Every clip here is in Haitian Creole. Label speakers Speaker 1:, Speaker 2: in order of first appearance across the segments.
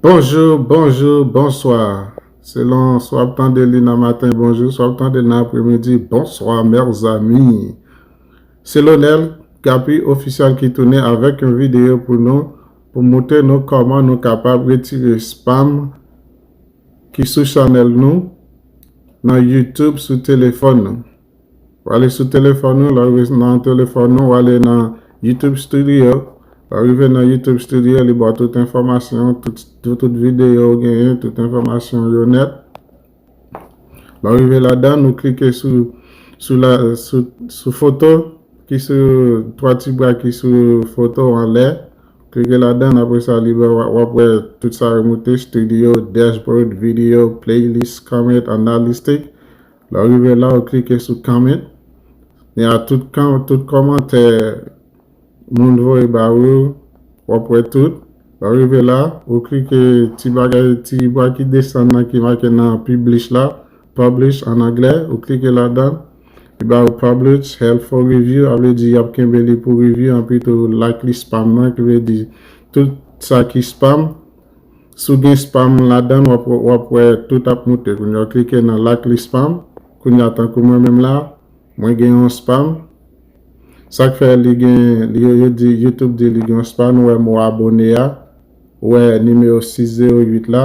Speaker 1: Bonjour bonjour bonsoir selon swa wap tande li nan matin bonjour swa wap tande nan apre midi bonsoir mers amis se Lonel Gappy official ki tounen avek yon video pou nou pou moutre nou koman nou kapab retire spam ki sou chanel nou nan youtube sou telefon nou. Ou ale sou telefòn ou, lè ou rive nan telefòn ou, ou ale nan YouTube Studio, lè ou rive nan YouTube Studio, li ba w tout enfòmasyon, tout videyo ou genyen, tout enfòmasyon ou yo nèt. Lè ou rive ladan, ou klike sou sou foto ki sou 3 ti bra ki sou foto an lè, klike ladan, apre sa li ba w ap wè tout sa yo moute, Studio, Dashboard, Video, Playlist, Comment, Analytics, Lè w rive la ou klike sou comment e a tout tout kòmantè moun voye ba ou yo w ap wè tout. Lè w rive la ou klike ti bagay ti bwa ki desann nan ki make nan publish la publish an anglè ou klike ladan li ba ou publish hell for review a vle di y ap kenbe li pou review anpi tou like li spam nan ki vle di tout sa ki spam Si w gen spam ladann wap wap wè tout ap moute kounya w klike nan lakli spam kounya tankou mwen menm la mwen gen yon spam sak fè li gen yo yo di youtube di li gen yon spam ou wè mo abone a ou wè nimewo 6 0 8 la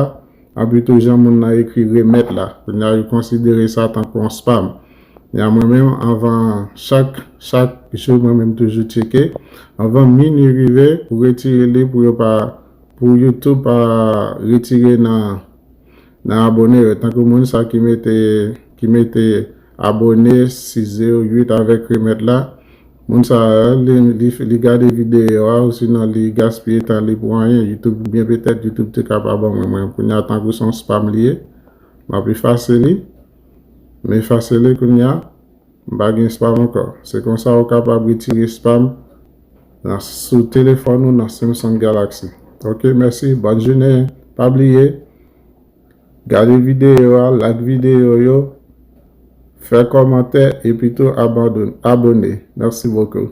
Speaker 1: anpi tou jan moun nan ekri remèt la kounya yo konsidere sa tankou yon spam kounya mwen menm anvan chak chak jou mwen menm toujou tcheke anvan minwi rive pou retire li pou yo pa Pou YouTube pa retire nan nan abone yo tankou moun sa ki mete ki mete abone size ou 8 avek remet la moun sa li gade video a ou sinon li gaspiye tan li pou anyen YouTube byen petet YouTube te ka pa ban mwen mwen kounya tankou son spam li ye map efase li me efase li kounya M pa gen spam ankò. Se konsa ou kapab retire spam nan sou telefòn ou nan Samsung Galaxy. Ok mèsi bòn jounen pa bliye gade videyo a like videyo yo fè kòmantè epitou abone mèsi bokou.